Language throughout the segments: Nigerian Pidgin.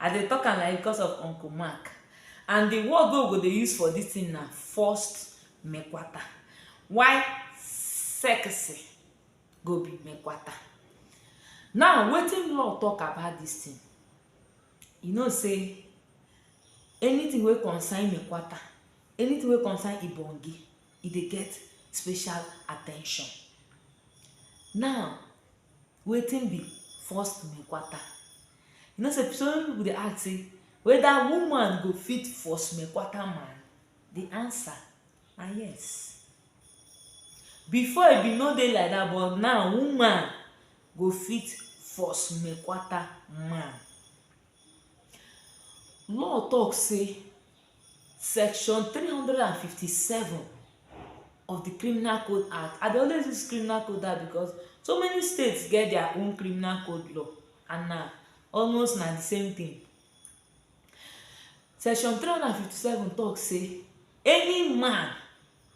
I dey talk am like this because of Uncle Mark and the word wey we go dey use for this thing na first mekwata. Why sexy go be mekwata. Now wetin law talk about this thing? You know sey anything wey concern mekwata, anything wey concern ibonge, e dey get special attention. Now Wetin be forced mekwata? You know sey so many pipu dey ask sey whether woman go fit force mekwata man? De answer na yes. Before e be no dey like dat but now woman go fit force mekwata man. Law talk sey section three hundred and fifty seven of de criminal code act, I dey always use criminal code act because so many states get their own criminal code law and na almost na de same thing. Section three hundred and fifty seven talk sey any man,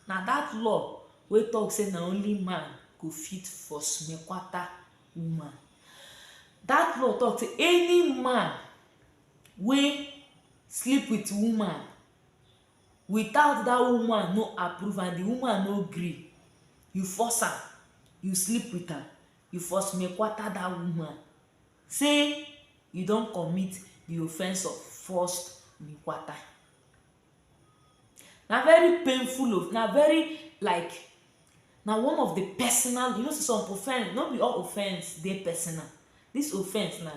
na dat law wey talk sey na only man go fit force me kwata woman. Dat law talk sey any man wey sleep with woman without dat woman no approve am, the woman no gree, you force am, you sleep with am, you force me kwata dat woman sey you don commit the offence of forced me kwata. Na very painful of na very like na one of the personal you know sey some offence no be all offence dey personal this offence na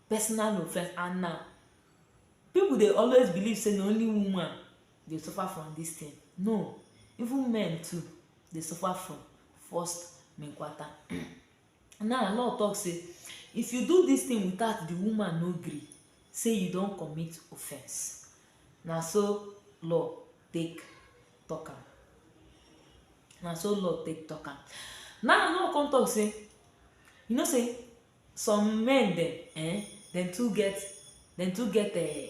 personal offence and na people dey always believe sey na only woman dey suffer from this thing no even men too dey suffer from forced Now law talk say if you do this thing without the woman no gree say you don commit offense na so law take talk am na so law take talk am now law come talk say you know say some men dem um dem too get dem too get um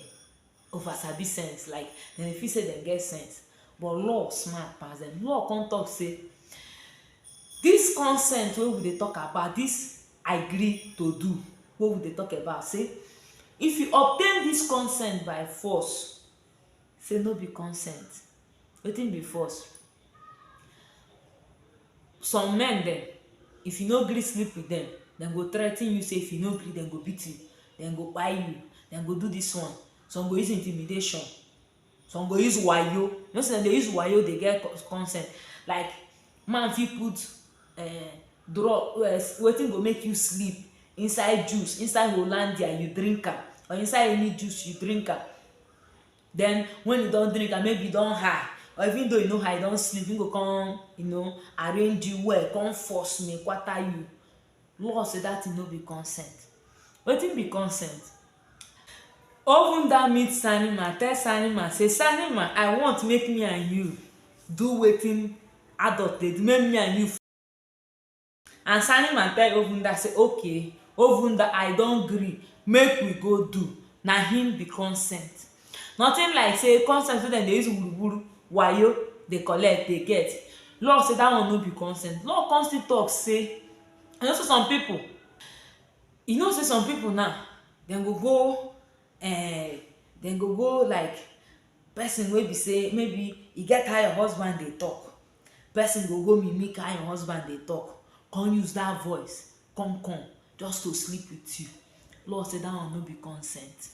over sabi sense like dem dey feel sey dem get sense but law smart pass dem. Law come talk sey dis consent wey we dey talk about, dis agree to do wey we dey talk about sey if you obtain dis consent by force sey no be consent. wetin be force some men dem if you no gree sleep with them dem go threaten you say if you no gree dem go beat you dem go kpai you dem go do this one some go use intimidation some go use wayo you know say dem dey use wayo dey get consent like man fit put um drug um wetin go make you sleep inside juice inside hollandia you drink am or inside any juice you drink am Then when you don drink am maybe you don high or even though you no high you don sleep him go come you know arrange you well come force me kwata you law say that thing no be consent wetin be consent even that meet sani man tell sani man say sani man i want make me and you do wetin adult dey do make me and you And Saneman tell Ovunda say, Okay, Ovunda, I don gree, make we go do. Na him be consent. Nothing like say consent wey dem dey use wuruwuru, wayo dey collect, dey get. Law say that one no be consent. Law come still talk say, you know say some people, you know say some people now, dem go go um dem go go like person wey be say maybe e get how your husband dey talk. person go go mimic how your husband dey talk come use that voice come come just to sleep with you law say that one no be consent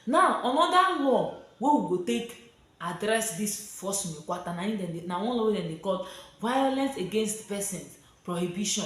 now another law wey we go take address this force me kwata na im dem dey na one law wey dem dey call violence against persons prohibition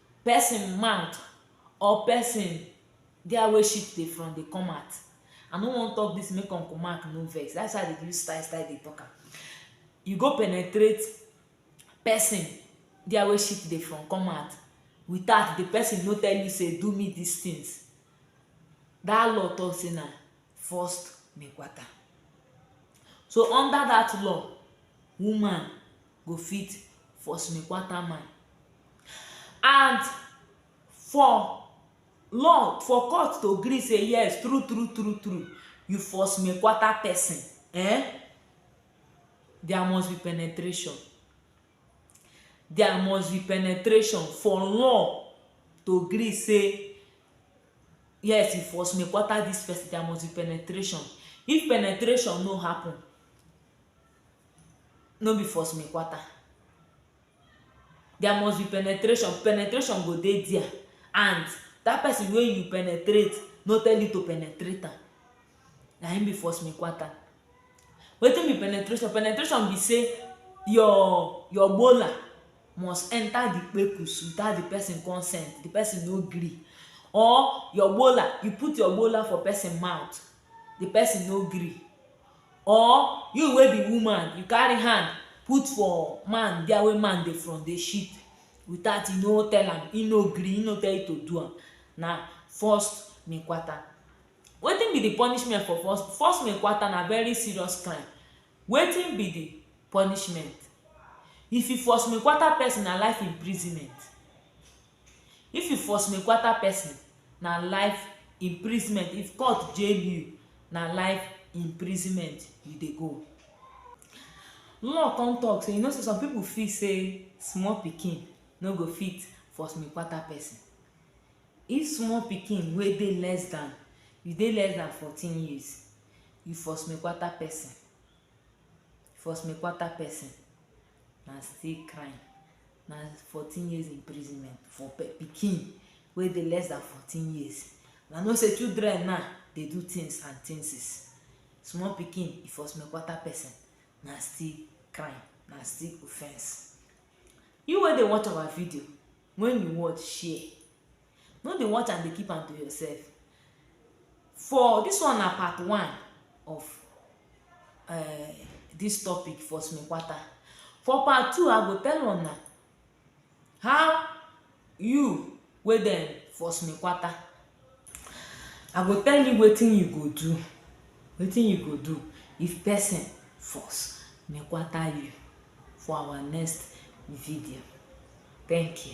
person mouth or person get where shit dey from dey come out I no wan talk this make uncle mark no vex that's why I dey use style style dey talk am you go penetrate person there where shit dey from come out without the person no tell you say do me this things that law talk say na first me quata so under that law woman go fit force me kwata man and for law for court to gree say yes true true true true you force me kwata person eh there must be penetration there must be penetration for law to gree say yes you force me kwata this person there must be penetration if penetration no happen no be for small kwata there must be penetration, penetration go dey dia and that person wey you penetrate no tell you to penetrate am na him be for small kwata wetin be penetration, penetration be say your your molar must enter the kpekus without the person consent the person no gree or your molar, you put your molar for person mouth the person no gree Or you wey be woman you carry hand put for man where wey man dey from dey shit without you no tell am him no gree him no tell you to do am na forced mekwata. Wetin be the punishment for forced forced mekwata na very serious crime wetin be the punishment if you forced mekwata person na life imprisonment If you force me kwata person, na life imprisonment. If court jail you, na life imprisonment you dey go. Law come talk say, you know say some people feel say small pikin no go fit force me kwata person. If small pikin wey dey less than, you dey less than fourteen years, you force me kwata person, force me kwata person, na still crime na fourteen years imprisonment for pikin wey dey less than fourteen years na know say children now dey do things and things small pikin if for small quarter person na still crime na still offence you wey dey watch our video When you watch, share. No dey watch and dey keep am to yourself. For this one na part one of uh, this topic for Smekwata. For part two, I go tell una how you wey dem for Smekwata I go tell you wetin you go do, wetin you go do if person force nekwata you for our next video. Thank you.